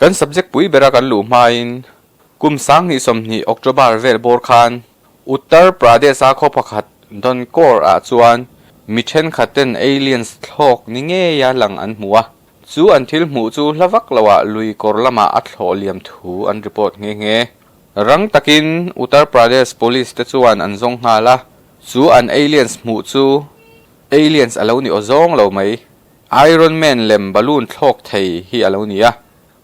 Kan subject pui bera kan luh hmain kum sang hnih sawmhnih October vel bawr khan Uttar Pradesh a khaw pakhat Donkor ah chuan mi thenkhat ten aliens thlawk ni ngeia lang an hmu a, chu an thil hmuh chu hla vak lo ah lui kawr lamah a thlawh liam thu an report nghe nghe. Rang takin Uttar Pradesh Police te chuan an zawng nghal a. Chu an aliens hmuh chu aliens a lo ni aw zawng lo mai. Iron Man lem balloon thlawk thei hi a lo ni a.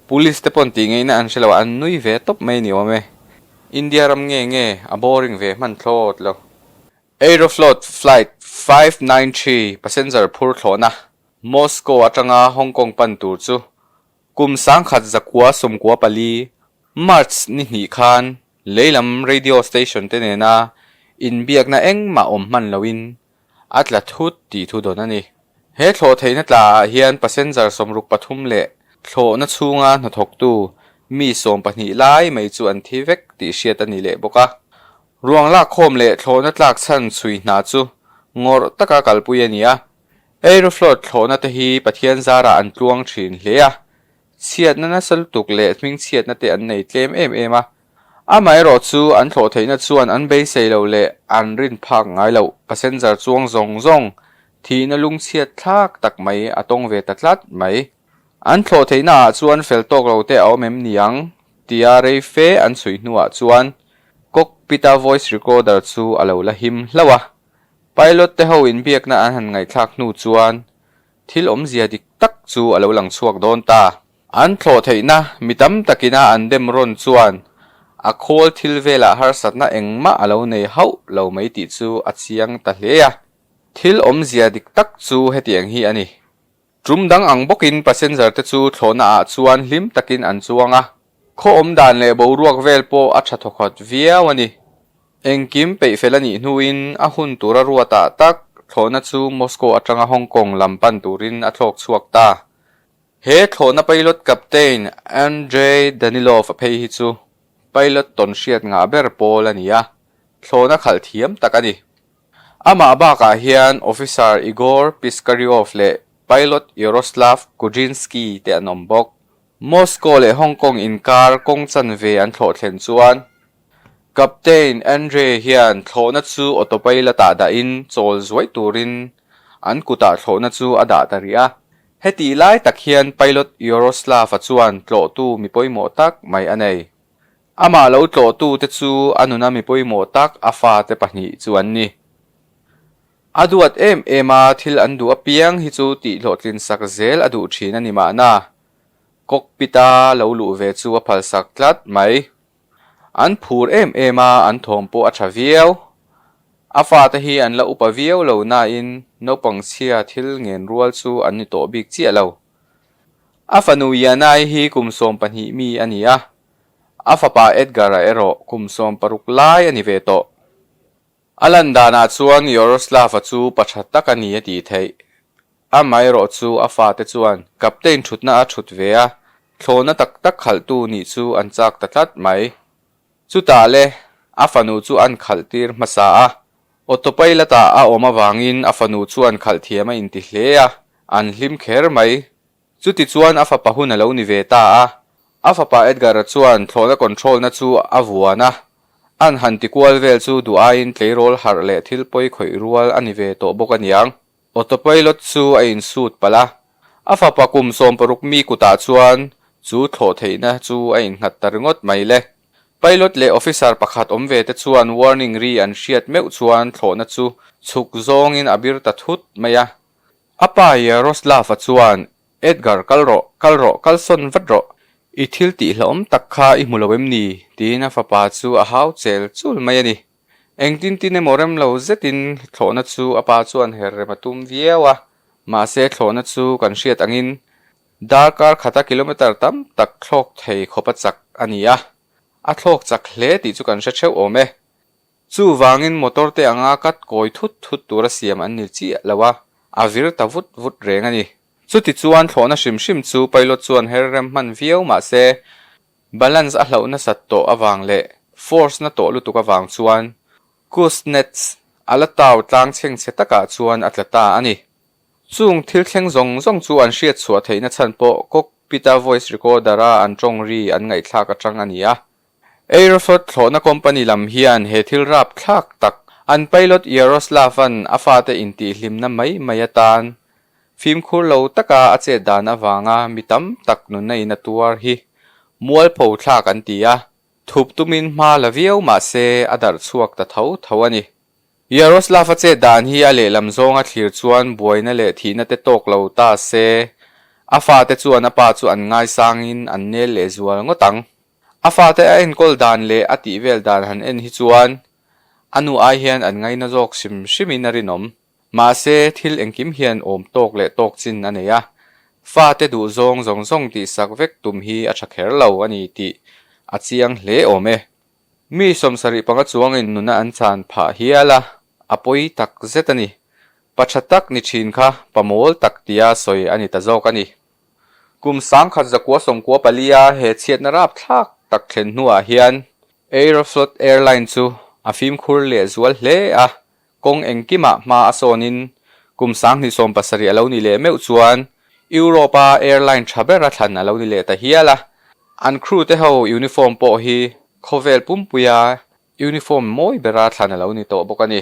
Police te pawn tih ngaihna an hre lo a, an nui ve tawp mai ni awm e. India ram nge nge a boring ve hman thlawt lo. Aeroflot flight five nine three passenger phur thlawhna Moscow atanga Hong Kong pan tur chu kum sangkhat zakua sawmkua pali, March, ni hnih khan Lei lam radio station te nena inbiakna engmah awm hman loin a tla thut tih thu dawn a ni. He thlawh theihna tla ah hian passenger sawmruk pathum leh thlawhna chhunga hnathawktu mi sawm pahnih lai mai chu an thi vek tih hriat a ni leh bawk a. Ruang lakkhawm leh thlawhna tlak chhan chhui hna chu ngawrh taka kalpui a ni a. Aeroflot thlawhna te hi Pathian zara an tluang thin hle a, Chhiat nana saltuk leh hming chhiatna te an nei tlem em em a, amaherawh chu an thlawh theihna chuan an beisei lo leh an rin phak ngai loh, passenger chuang zawng zawng, thihna lung chhiat thlak tak mai a tawng ve ta tlat mai. An thlawh theihna ah chuan fel tawk lo te a awm em ni ang? tia rei fe an chhui hnuah chuan cockpit-a voice recorder chu a lo la him hlauh a, pilot te ho inbiakna an han ngaihthlak hnu chuan Thil awmzia dik tak chu a lo lang chhuak dawn ta. An thlawh theihna mi tam takina an dem rawn chuan a khawl thil velah harsatna engmah a lo nei hauh lo mai tih chu a chiang ta hle a. Thil awmzia dik tak chu hetiang hi a ni. Tum dang ang bawkin passenger te chu thlawhnaah chuan hlim takin an chuang a. Khawawm dan leh boruak vel pawh a tha thawkhat viau a ni. Engkim peih fel a nih hnuin a hun tura rua tah tak, thlawhna chu Moscow atanga Hong Kong lam pan turin a thlawk chhuak ta. He thlawhna pilot captain Andrey Danilov a phei hi chu pilot tawn hriat ngah ber pawl a ni a, thlawhna khalh thiam tak a ni. Amah bakah hian Officer Igor Piskaryov leh Pilot Yaroslav Kudrinsky te an awm bawk. Moscow leh Hong Kong inkar kawng chanve an thlawh thlen chuan Captain Andre hian thlawhna chu autopilot ah dahin chawl zuai turin an kutah thlawhna chu a dah ta rih a. Hetih lai tak hian pilot Yaroslav-a chuan tlawhtu mi pawimawh tak mai a nei. Amah lo tlawhtute chu a nuna mi pawimawh tak a fate pahnih chu an ni. A duat em em a thil an duh apiang hi chu tih hlawhtlin sak zel a duh thin a ni mahna, cockpit a lo luh ve chu a phalsak tlat mai. An phur em em a an thawm pawh a tha viau. A fate hi an la upa viau lo nain naupang chhia thil ngen rual chu an ni tawh bik chiah lo. A fanu Yanai hi kum sawm pahnih mi a ni a, a fapa Edgar-a erawh kum sawm paruk lai a ni ve tawh. A lan danah chuan Yaroslava chu pa tha tak a ni a tih theih. Amaherawh chu a fate chuan captain thutna a thut ve a, thlawna tak tak khalhtu nih chu an chak ta tlat mai. Chutah le a fanu chu an khalh tir hmasa a, autopilot-ah a awm avangin a fanu chuan khalh thiam a inti hle a, an hlim kher mai. Chuti chuan a fapa hun a lo ni ve ta a, a fapa Edgar-a chuan thlawhna control-na chu a vuan a, an han ti kual vel chu duh aiin tleirawl harh leh thil pawi khawih rual a ni ve tawh bawk a niang. Autopilot chu a in suit palh a, a fapa kum sawm paruk mi kutah chuan chu thlawh theihna chu a in nghat ta ringawt mai le. Pilot leh officer pakhat awm ve te chuan warning ri an hriat meuh chuan thlawhna chu chhuk zawngin a bir ta thut mai a, A pa Yaroslava chuan, Edgar, kal rawh, kal rawh, kal sawn vat rawh. I thil tih hlauhawm tak kha i hmu lo em ni? tiin a fapa chu a hau chel chul mai a ni. Engtin tin emaw rem lo zetin thlawhna chu a pa chuan her rem a tum viau a, mahse thlawhna chu kan hriat angin darkar khata kilometre tam tak thlawk thei khawpa chak a ni a, a thlawk chak hle tih chu kan hre theuh awm e. Chuvangin motor te anga cut kawi thut thut tura siam an ni chiah lo a, a vir ta vut vut reng a ni. Chutichuan thlawhna hrim hrim chu pilot chuan her rem hman viau mahse, balance a hloh nasat tawh avang leh force na tawh lutuk avang chuan Kuznets a la tau tlang chheng che takah chuan a tla ta a ni. Chung thil thleng zawng zawng chu an hriatchhuah theihna chhan pawh cockpit-a voice recorder-a an tawng ri an ngaihthlak atang a ni a, Aeroflot thlawhna company lam hian he thil rap thlak tak an pilot Yaroslav-a'n a fate intihhlimna mai mai atan fimkhur lo taka a chet dan avanga mi tam tak nunna in a tuar hi mualpho thlak an ti a, thup tumin hma la viau mahse a darh chhuak ta tho tho a ni. Yaroslav-a chet dan hi a lehlam zawnga thlir chuan buaina leh thihna te tawk lo ta se a fate chuan a pa chu an ngaisangin an nel leh zual ngawt ang. A fate a enkawl dan leh a tih vel dan han en hi chuan a nu ai hian an ngaina zawk hrim hrimin a rinawm. Mahse, thil engkim hian awm tawk leh tawk chin a nei a, fate duhzawng zawng zawng tihsak vek tum hi a tha kher lo a ni tih a chiang hle awm e. Mi sawmsarih panga chuangin nuna an chan phah hial a, a pawi tak zet a ni. Pa tha tak ni thin kha pa mawl tak tia sawi a ni ta zawk a ni. Kum sangkhat zakua sawmkua palia he chhiatna rap thlak tak thlen hnuah hian Aeroflot Airline chu a fimkhur leh zual hle a, kawng engkimah hma a sawnin kum sang hnih sawm pasarih a lo ni leh meuh chuan Europe-a airline tha bera thlan a lo ni leh ta hial a. An crew te ho uniform pawh hi khawvel pumpuia uniform mawi bera thlan a lo ni tawh bawk a ni.